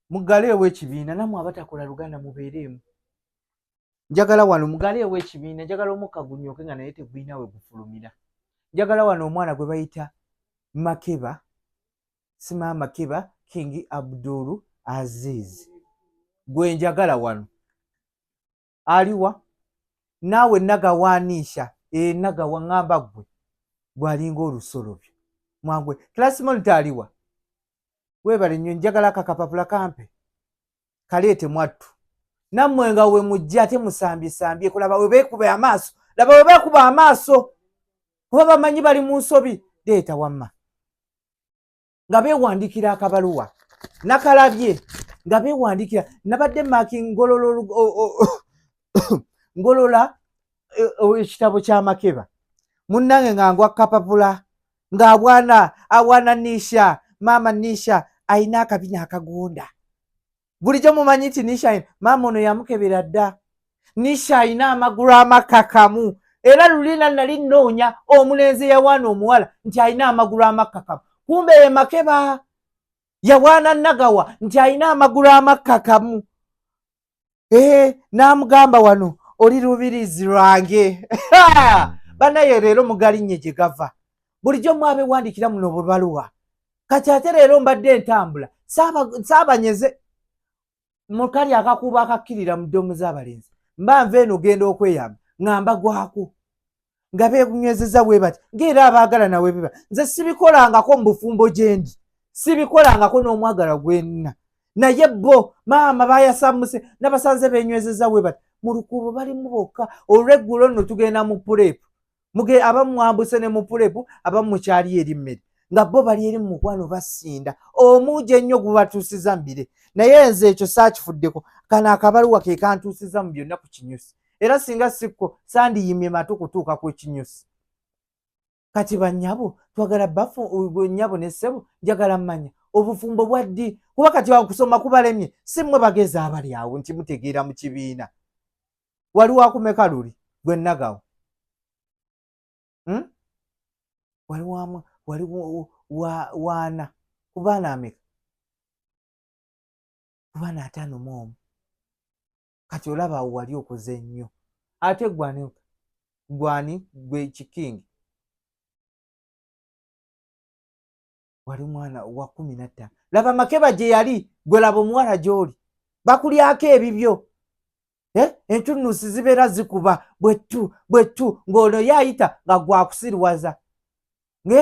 mugaleewo ekibiina namwe abatakola luganda mubeereemu njagala wano mugaleewo ekibiina njagala omukka gunyooke nga naye tegulina we gufulumira njagala wano omwana gwe bayita makeba sima makeba kingi abdulu aziizi gwe njagala wano aliwa naawe nagawaniisha ee eh, nagawa ŋamba gwe gwalinga olusolobyo mwangwe klasmonita aliwa webale nnyo njagala kakapapula kampe kaleete mwattu nammwe nga we mujja ate musambyesambye kulaba we beekuba amaaso laba we beekuba amaaso kuba bamanyi bali mu nsobi leeta wamma nga bewandiikira akabaluwa nakalabye nga bewandiikira nabadde maki ngolola ngolola e, ekitabo kyamakeba munnange nga ngwa kapapula ng'abwana abwana nisha maama nisha alina akabina akagonda bulijjo mumanyi nti nisha maama ono yamukebera dda nisha alina amagulu amakakamu era lulina nali nnoonya omulenzi yawaana omuwala nti alina amagulu amakakamu kumbe ye makeba yawaana nagawa nti alina amagulu amakakamu ee eh, n'amugamba wano oli lubirizi lwange banaye leero mugalinye gye gava bulijjo mwabewandiikira muno bubaluwa kati ate leero mbadde entambula saabanyeze mukali akakuubo akakkirira mu ddomu z'abalenzi mba nva eno genda okweyamba nga mbagwako nga beekunywezeza bwe bati ngaera abaagala nawe biba nze sibikolangako mu bufumbo gyendi sibikolangako n'omwagala gwenna naye bo maama bayasamuse nabasanze benywezeza bwe bati mu lukuubo balimu bokka olweggulo nno tugenda mu puleepu muge abamu mwambuse ne mupulepu abamu mukyali eri mmere nga bo bali eri mumukwano basinda omuugi ennyo gubatuusiza mbire naye nze ekyo saakifuddeko kano akabaluwa ke kantuusiza mu byonna ku kinyusi era singa sikko sandiyimye matu kutuuka ku ekinyusi kati banyabo twagala bafu nyabo ne ssebo njagala mmanya obufumbo bwa ddi kuba kati awo kusoma kubalemye si mmwe bagezi abali awo nti mutegeera mu kibiina wali wakumeka luli gwe nagawo hmm? wali wamwa wali waana kubaana ameka kubaana ataano mu omu kati olaba awo wali okoze nnyo ate gwani gwani gwe kikingi wali mwana wa kumi nattano laba makeba gye yali gwe laba omuwala gy'oli bakulyako ebibyo eh? entunusi zibeera zikuba bwettu bwettu ng'ono ye ayita nga gwakusiriwaza nge